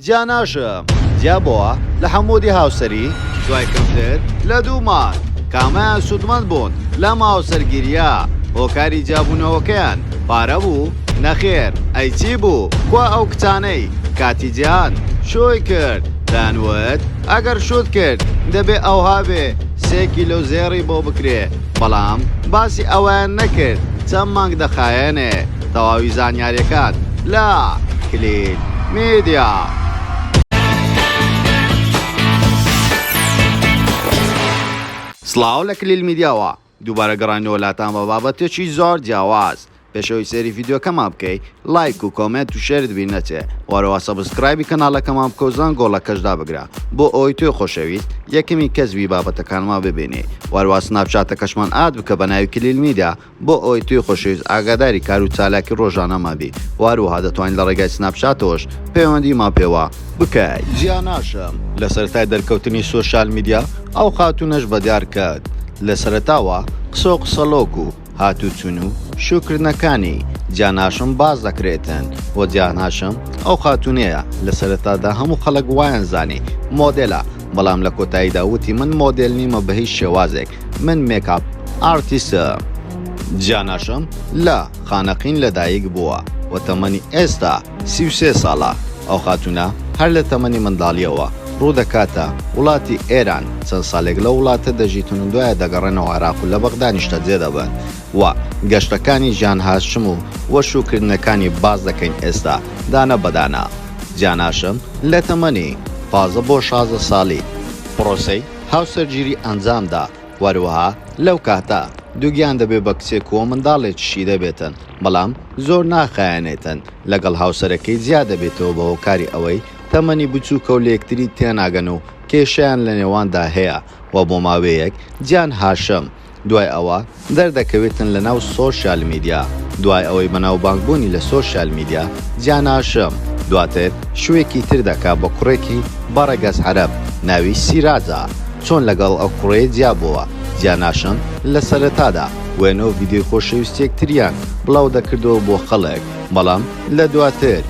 جیا ناشم جیا بووە لە حەموودی هاوسەری دوای کەمتر لە دوو مانگ کامەیان سوودمەند بوون لەم هاوسەرگیریە هۆکاری جیابوونەوەکەیان پارە بوو نەخێر ئەی چی بوو کوا ئەو کچانەی کاتی جیهان شووی کرد دەیان وت ئەگەر شووت کرد دەبێ ئەوها بێ سێ کیلۆ زێڕی بۆ بکرێ بەڵام باسی ئەوەیان نەکرد چەند مانگ دەخایەنێ تەواوی زانیاریەکان لە کلیل میدیا. سڵاو لە کلیل میدیاوە دووبارە گەڕاینەوە لاتان بە بابەتێکی زۆر جیاواز پێشەوەی سێری ڤیددیوکەمان بکەی لایک و کۆمنت و شێرت بیر نەچێ وەرەوە سەبسکرایبی کەناڵەکەمان بکەوزان گۆڵەکەشدا بگرە بۆ ئەوی توێ خۆشەویست یەکەمی کەسبی بابەتەکانمان ببینی وەروە سناپچاتەکەشمان ئاد بکە بە ناوی کلیل میدا بۆ ئەوەی توی خۆشەویست ئاگاداری کار و چالاکی ڕۆژانەمان بی و هەروەها دەتوانی لە ڕێگای سناپچاتەوەش پەیوەندیمان پێوە بکەی. جیا ناشم لە سەرەتای دەرکەوتنی سۆشیال میدیا ئەو خاتوونەش بە دیار کەت لە سەرەتاوە قسە و قسەڵۆک و هاتوچون و شو کردنەکانی جیا ناشم باس دەکرێتن و جیا ناشم ئەو خاتوونەیە لە سەرەتادا هەموو خەڵک وایان زانی مۆدێلە بەڵام لە کۆتاییدا وتی من مۆدێل نیمە بە هیچ شێوازێک من مێکاپ ئارتیسە جاناشم لە خانەقین لەدایک بووە و تەمەنی ئێستا سی و سێ ساڵە ئەو خاتونە هەر لە تەمەنی منداڵیەوە ڕوودەکاتە وڵاتی ئێران چەند ساڵێک لەو وڵاتە دەژیتن و دوایە دەگەڕێنەوە عێراق و لە بەغدا نیشتەجێ دەبن و گەشتەکانی ژان هاشم و و شووکردنەکانی باس دەکەین ئێستا دانە بە دانە جان هاشم لە تەمەنی پازدە بۆ شازدە ساڵی پڕۆسەی هاوسەرگیری ئەنجام دا وەروەها لەو کاتە دووگیان دەبێ بە کچێک و منداڵێکی شیدەبێتن بەڵام زۆر ناخایەنێتن لەگەڵ هاوسەرەکەی جیا دەبێتەوە بە هۆکاری ئەوەی تەمەنی بچووکە و لە یەکتری تێناگەن و کێشەیان لە نێواندا هەیە و بۆ ماوەیەک جان هاشم دوای ئەوە دەردەکەوێتن لە ناو سۆشیال میدیا، دوای ئەوەی بەناوبانگ بوونی لە سۆشیال میدیا جاناشم دواتر شوێکی تر دەکا بە کوڕێکی بە ڕەگەز عەرەب ناوی سیراجە چۆن لەگەڵ ئەو کوڕەیە جیا بۆوە جاناشم لە سەرەتادا وێنەو ڤیدیۆی خۆشەویستیەکتریان بڵاو دەکردەوە بۆ خەڵک بەڵام لە دواتر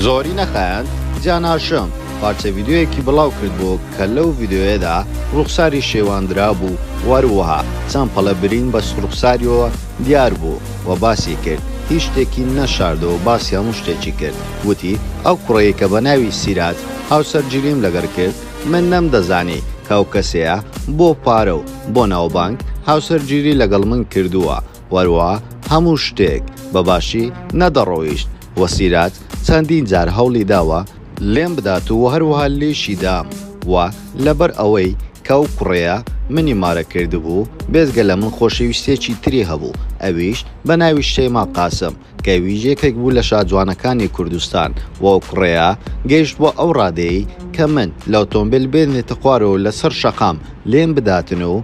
زۆری نەخایاند جاناشم پارچە ڤیدیۆیەکی بڵاو کردبوو کە لەو ڤیدیۆیەدا ڕووخساری شێوان درابوو و هەروەها چەند پەڵە برین بە ڕووخساریەوە دیار بوو و باسی کرد هیچ شتێکی نەشاردەوە باسی هەموو شتێکی کرد وتی ئەو کوڕەی کە بە ناوی سیراج هاوسەرگیریم لەگەر کرد من نەمدەزانی کە ئەو کەسەیە بۆ پارە و بۆ ناوبانگ هاوسەرگیری لەگەڵ من کردووە وەروا هەموو شتێک بە باشی نەدەڕۆیشت و سیرات چەندین جار هەوڵی داوە لێم بدات و هەروەها لێیشی دام و لەبەر ئەوەی کە ئەو کوڕەیە منی مارە کردبوو بێجگە لە من خۆشەویستێکی تری هەبوو ئەویش بە ناوی شەیما قاسم کە ئەویش یەکێک بوو لە شاجوانەکانی کوردستان و ئەو کوڕەیە گەیشتبووە ئەو ڕادەیەی کە من لە ئۆتۆمبێل بێنێتە خوارەوە و لەسەر شەقام لێم بداتن و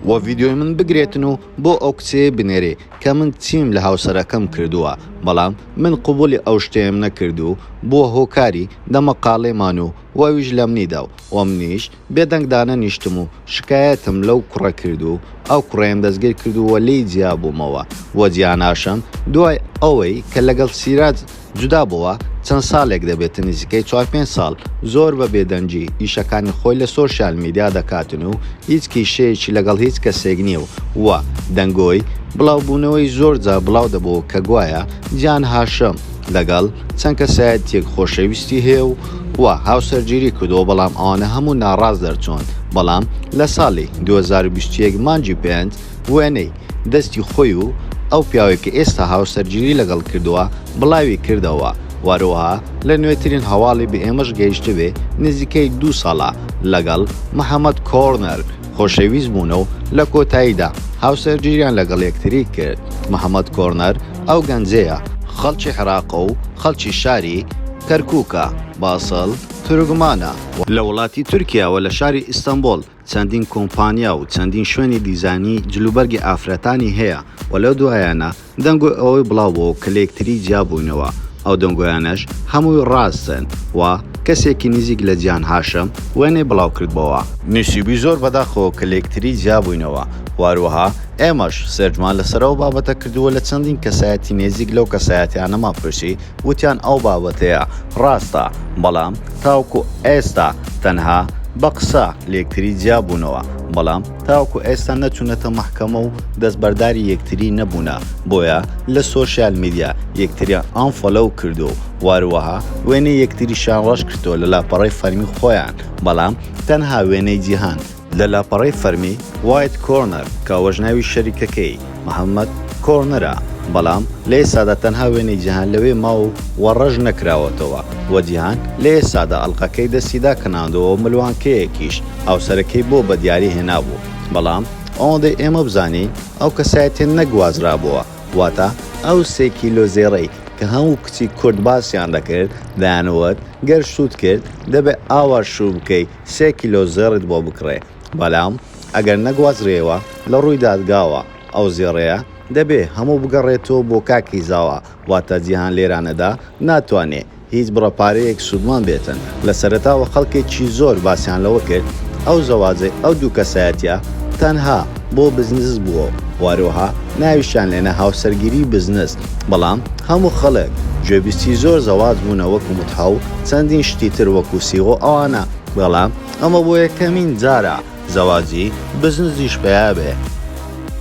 وە ڤیدیۆی من بگرێتن و بۆ ئەو کچەیە بنێری کە من چیم لە هاوسەرەکەم کردووە بەڵام من قبولی ئەو شتەیەم نەکرد و بووە هۆکاری دەمەقاڵێمان و وەویش لەمنی دا و وەمنیش بێ دەنگ دانەنیشتم و شکایەتم لەو کوڕە کرد و ئەو کوڕەیم دەستگیر کرد و وەلێی جیابوومەوە وە جیاناشم دوای ئەوەی کە لەگەڵ سیراج جودا بۆوە چەند سالێک دەبێتە نزیکەی چوار پێنج سال زۆر بە بێدەنگی ئیشەکانی خۆی لە سۆشیال میدیا دەکاتن و هیچ کیشەیەکی لەگەڵ هیچ کەسێک نیە و وە دەنگۆی بلاو بونەوەی زۆر جار بلاو دەبۆ کە گوایە جیهان هاشم لەگەڵ چەند کەسایەتیەک خۆشەویستی هەیە و وە هاوسەرگیری کردوە بەڵام ئەوانە هەموو ناڕاست دەرچون بەڵام لە سالی دوو هەزار و بیست و یەک مانگی پێنج وێنەی دەستی خۆی و ئەو پیاوەی کە ئێستا هاوسەرگیری لەگەڵ کردووە بڵاوی کردەوە و هەروەها لە نوێترین هەواڵی بە ئێمەش گەیشتبێ نزیکەی دوو ساڵە لەگەڵ، محەمەد کۆرنەر، خۆشەویست بوونە و لە کۆتاییدا هاوسەرگیریان لەگەڵ یەکتری کرد، محەمەد کۆرنەر ئەو گەنجەیە، خەڵکی عێراقە و خەڵکی شاری، کەرکووک، ە، باسڵ، تورکمانە و، لە وڵاتی تورکیاوە لە شاری ئیستەنبوڵ چەندین کۆمپانیا و چەندین شوێنی دیزاینی جلوبەرگی ئافرەتانی هەیە و لەو دوایانە دەنگۆی ئەوەی بڵاوبۆوە کە لەیەکتری جیابووینەوە ئەو دەنگۆیانەش هەمووی ڕاستن و کەسێکی نزیک لە جیهان هاشم وێنەی بڵاوکردبۆوە نوسیبوی زۆر بەداخەوە کە لەیەکتری جیابووینەوە و هەروەها ئێمەش سێرجمان لەسەر ئەو بابەتە کردووە لە چەندین کەسایەتی نێزیک لەو کەسایەتیانەمان پرسی وتیان ئەو بابەتەیە ڕاستە، بەڵام تاوەکو ئێستا تەنها بە قسە لێکتری جیا بوونەوە، بەڵام تاوەکو ئێستا نەچوونەتە مەحکەمە و دەستبەرداری یەکتری نەبوونە، بۆیە لە سۆشیال میدیا یەکتریان ئانفۆلۆو کردووە و واروەها وێنەی یەکتریشیان ڕەش کردووە لە لاپەڕەی فەرمی خۆیان، بەڵام تەنها وێنەی جیهان. لە لاپەڕەی فەرمی، White Corner، کە ئەوەش ناوی شەریکەکەی، محەمەد کۆرنەر، ە، بەڵام لە ئێستادا تەنها وێنەی جیهان لەوێ ماو و ڕەش نەکراوەتەوە و جیهان لە ئێستادا ئەڵقەکەی دەستی داکەناندووە و ملوانکەیەکیش هاوسەرەکەی بۆ بەدیاری هێنابوو بەڵام ئەوەندەی ئێمە بزانین ئەو کەسایەتیە نەگوازرابووە واتە ئەو سێ کیلۆ زێڕەی کە هەموو کچی کورد باسیان دەکرد دەیانوت گەر شووت کرد دەبێ ئاوا شوو بکەی سێ کیلۆ زێڕیت بۆ بکڕێ، بەڵام ئەگەر نەگوازرێیەوە لە ڕووی دادگاوە، ئەو زێڕەیە دەبێ هەموو بگەڕێتەوە بۆ کاکی زاوا، واتە جیهان لێرانەدا ناتوانێ هیچ بڕە پارەیەک سوودمەند بێتن، لە سەرەتاوە خەڵکێکی زۆر باسیان لەوە کرد ئەو زەواجەی ئەو دوو کەسایەتییە تەنها بۆ بزنس بووە و هەروەها ناویشیان لێنا هاوسەرگیری بزنس. بەڵام هەموو خەڵک گوێبیستی زۆر زەواج بوونە وەکو متحە و چەندین شتی تر وەکو سیغ و ئەوانە بەڵام ئەمە بۆ یەکەمین جارە زەواجی بزنزیش پیا بێ.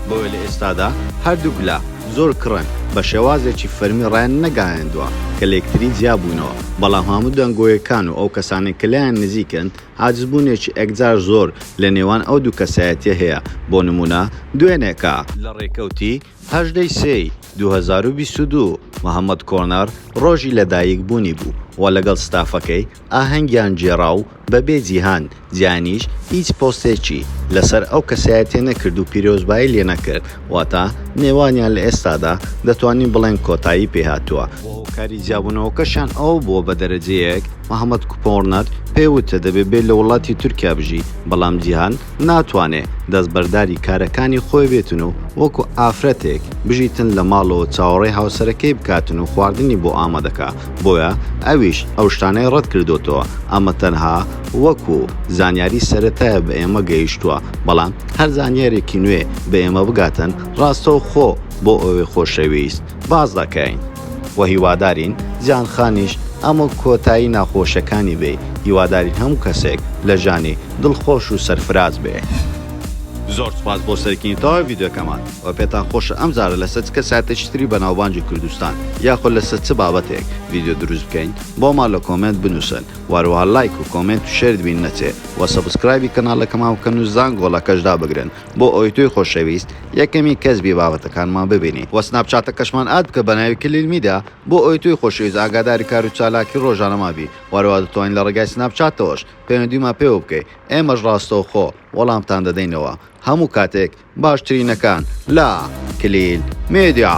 بۆیە لە ئێستادا هەردووک لا زۆر کڕن بە شێوازێکی فەرمی ڕایان نەگایەندوە کە لەیەکتری جیا بوونەوە بەڵام هەموو دەنگۆیەکان و ئەو کەسانەی کە لێیان نزیکن عاجز بوونێکی ئەکجار زۆر لە نێوان ئەو دوو کەسایەتیە هەیە بۆ نموونە دوێنێکە لە ڕێکەوتی هەژدە ی سێ ی دوو هەزار و بیست و دوو، محەمەد کۆنەر ڕۆژی لەدایک بوونی بوو و لەگەڵ ستافەکەی ئاهەنگیان گێڕا و بەبێ جیهان جیانیش هیچ پۆستێکی لەسەر ئەو کەسایەتیە نەکرد و پیرۆزبایی لێ نەکرد واتا نێوانیان لە ئێستادا دەتوانین بڵێن کۆتایی پێ هاتووە. و هۆکاری جیابوونەوەکەشیان ئەوە بووە بە دەرەجەیەک محەمەد کپۆرنەر پێی وتە دەبێ بێ لە وڵاتی تورکیا بژی بەڵام جیهان ناتوانێ دەستبەرداری کارەکانی خۆی بێتن و وەکو ئافرەتێک بژیتن لە ماڵەوە چاوەڕێی هاوسەرەکەی بکاتن و خواردنی بۆ ئامادەکا بۆیە ئەویش ئەو شتانەی ڕەت کردۆتەوە ئەمە تەنها وەکو زانیاری سەرەتایە بە ئێمە گەیشتوە بەڵام هەر زانیارێکی نوێ بە ئێمە بگاتن ڕاستەو خۆ بۆ ئەوێ خۆشەویست باس دەکەین وە هیوادارین جان خانیش ئەمە کۆتایی ناخۆشەکانی بێ هیوادارین هەموو کەسێک لە ژانی دڵ خۆش و سەرفراز بێ. زۆر سوپاس بۆ سەرکردنی تەواوی ڤیدیۆکەمان وە پێتان خۆشە ئەم جارە لەسەر چ کەسایەتێکی تری بەناوبانگی کوردستان یاخۆ لەسەر چ بابەتێک ڤیدیۆ دروست بکەین بۆمان لە کۆمێنت بنوسن وە هەروەها لایک و کۆمێنت و شێرت بین نەچێ وە سەبسکرایبی کەناڵەکەمان بکەن و زانگۆڵەکەش دابگرن بۆ ئەوەی تۆی خۆشەویست یەکەمی کەس بی بابەتەکانمان ببینی وە سناپ چاتەکەشمان ئاد بکە بەناوی کلیل میدیا بۆ ئەوەی تۆی خۆشەویست ئاگاداری کارو چالاکی ڕۆژانەمان بی وەرەوا دەتوانی لە ڕێگای سناپ چاتەوەش پەیوەندیمان پێوە بکەی ئێمەش ڕاستەوخۆ وەڵامتان دەدەینەوە هەموو کاتێک باشترینەکان لە کلیل میدیا.